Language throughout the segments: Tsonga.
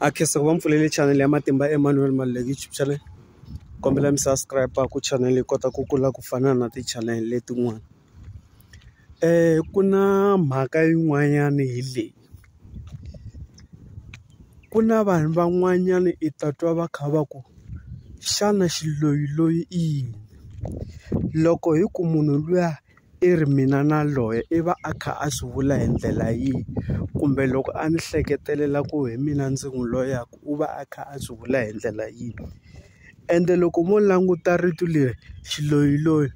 a khensa ku va mpfulele channel ya matimba Emmanuel Maluleke YouTube channel kombela mi subscribe ku channel yi kota ku kula ku fana na ti-channel letin'wana ku na mhaka yin'wanyana hi leyi ku na vanhu van'wanyana i ta twa va kha va ku xana xiloyiloyi i yini loko hi ku munhu luya. i ri mina na loyi i va a kha a swi vula hi ndlela yihi kumbe loko a ni hleketelela ku hi mina ndzi n'wi loyaku u va a kha a swi vula hi ndlela yihi ende loko mo languta rito leri xiloyiloyi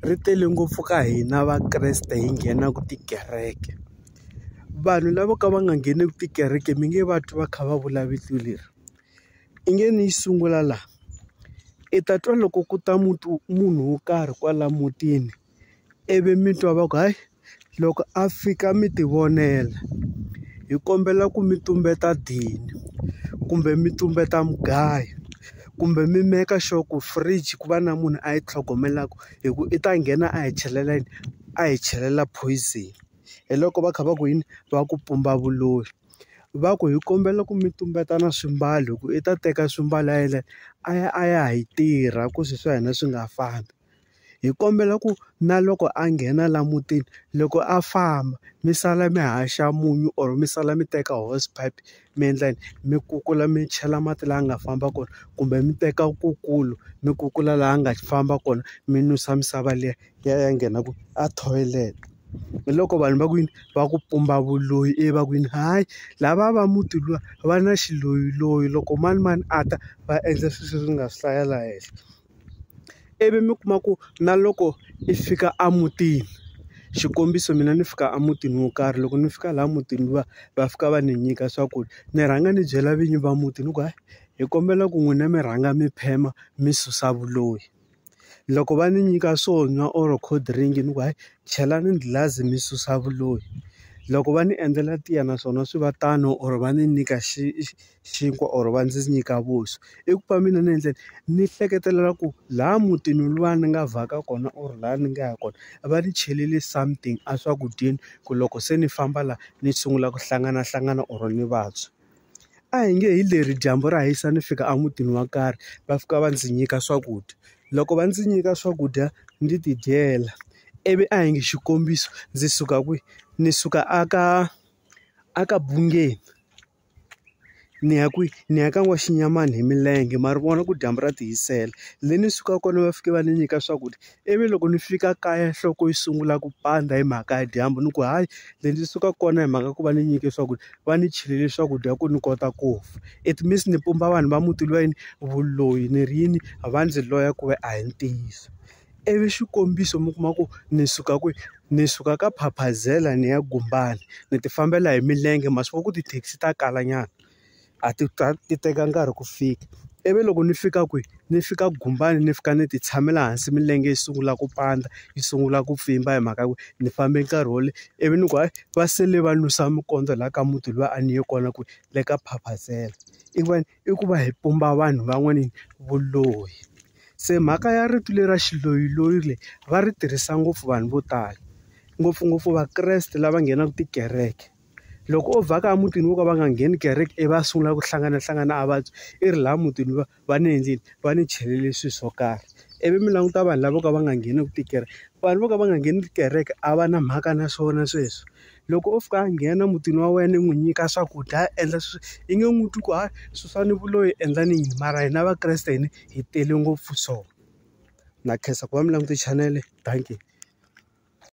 ri tele ngopfu ka hina Vakreste hi nghenaku tikereke vanhu lavo ka va nga ngheneki tikereke mi nge va twi va kha va vula vito leri. I nge ni yi sungula laha. I ta twa loko ku ta muti munhu wo karhi kwala mutini, ivi mi twa va ku hayi loko a fika mi ti vonela. Hi kombela ku mi tumbeta dini, kumbe mi tumbeta mugayo, kumbe mi make sure ku fridge ku va na munhu a yi tlhogomelaku hikuva i ta nghena a hi a hi chelela poison. hi loko va kha va ku yini va ku pumba vuloyi va ku hi kombela ku mi tumbeta na swimbalo hi ku i ta teka swimbalo a yena a ya a ya hi tirha ku swi swa hina swi nga fambi hi kombela ku na loko a nghena la mutini loko a famba mi sala mi haxa munyu or mi sala mi teka horse pipe mi endla yini mi kukula mi chela mati laha nga famba kona kumbe mi teka kukulu mi kukula laha nga famba kona mi nwisa misava liya. ya ya nghena ku a toilet hi loko vanhu va ku yini va ku pumba vuloyi ivi va ku yini hayi lava va muti luwa va na xiloyiloyi loko manimani a ta va endla swilo leswi ni nga swi hlaya laha henhla ivi mi kuma ku na loko i fika a mutini xikombiso mina ni fika a mutini wo karhi loko ni fika laha mutini luwa va fika va ni nyika swakudya ni rhanga ni byela vinyi va muti ni ku hayi hi kombela ku n'wina mi rhanga mi phema mi susa vuloyi. loko va ni nyika swo nwa or cold drink ni ku hayi chelani ghilazi mi susa vuloyi loko va ni endlela tiya naswona swi va tano or va ni nyika xi xinkwa or va ndzi nyika vuswa i ku va mina ni endlela ni hleketelela ku laha mutini luwa ni nga vhaka kona or laha ni nga ya kona va ni chelele something a swakudyeni ku loko se ni famba la ni sungula ku hlanganahlangana or ni vabya. a hi nge hi leri dyambu ra hisa ni fika emutini wo karhi va fika va ndzi nyika swakudya loko va ndzi nyika swakudya ndzi ti dyela ivi a hi nge xikombiso ndzi suka kwihi ni suka a ka a ka bungeni ni ya kwihi ni ya ka n'waxinyamani hi milenge ma ri vona ku dyambu ra ti hisela le ni sukaka kona va fike va ni nyika swakudya. ivi loko ni fika kaya nhloko yi sungula ku pandza hi mhaka ya dyambu ni ku hayi le ndzi suka kona hi mhaka ku va ni nyike swakudya va ni chelele swakudya ku ni kota ku fa it means ni pumba vanhu va muti lweyi vuloyi ni ri yini va ndzi loya ku ve a hi ntiyiso ivi xikombiso mi kuma ku ni suka kwihi ni suka ka phaphazela ni ya gumbani ni ti fambela hi milenge ma swi vona ku tithekisi ta kala nyana. a ti ta ti teka nkarhi ku fika ivi loko ni fika kwihi ni fika gumbani ni fika ni ti tshamela hansi milenge yi sungula ku pandza yi sungula ku pfimba hi mhaka ku ni fambe nkarhi wo leha ivi ni ku hayi va sele va nusa mikondzo laha ka muti luya a ni ye kona ku le ka phaphathela i ku va i ku va hi pumba vanhu van'wani vuloyi se mhaka ya rito leri ra xiloyiloyi leyi va ri tirhisa ngopfu vanhu vo tala ngopfungopfu vakreste lava nghenaka tikereke. Loko o vhaka emutini wo ka va nga ngheni kereke ivi a sungula ku hlanganahlangana a vabya, i ri laha mutini va va ni endlile? Va ni chelele swilo swo karhi. Ivi mi languta vanhu lavo ka va nga ngheneki tikereke, vanhu vo ka va nga ngheni tikereke a va na mhaka na swona sweswo. Loko o fika a nghena emutini wa wena i n'wi nyika swakudya a endla swilo i nge n'wi twi ku hayi susani vuloyi endlani yini mara hina vakreste hina hi tele ngopfu so. Na khensa ku va mi languta chanele dankie.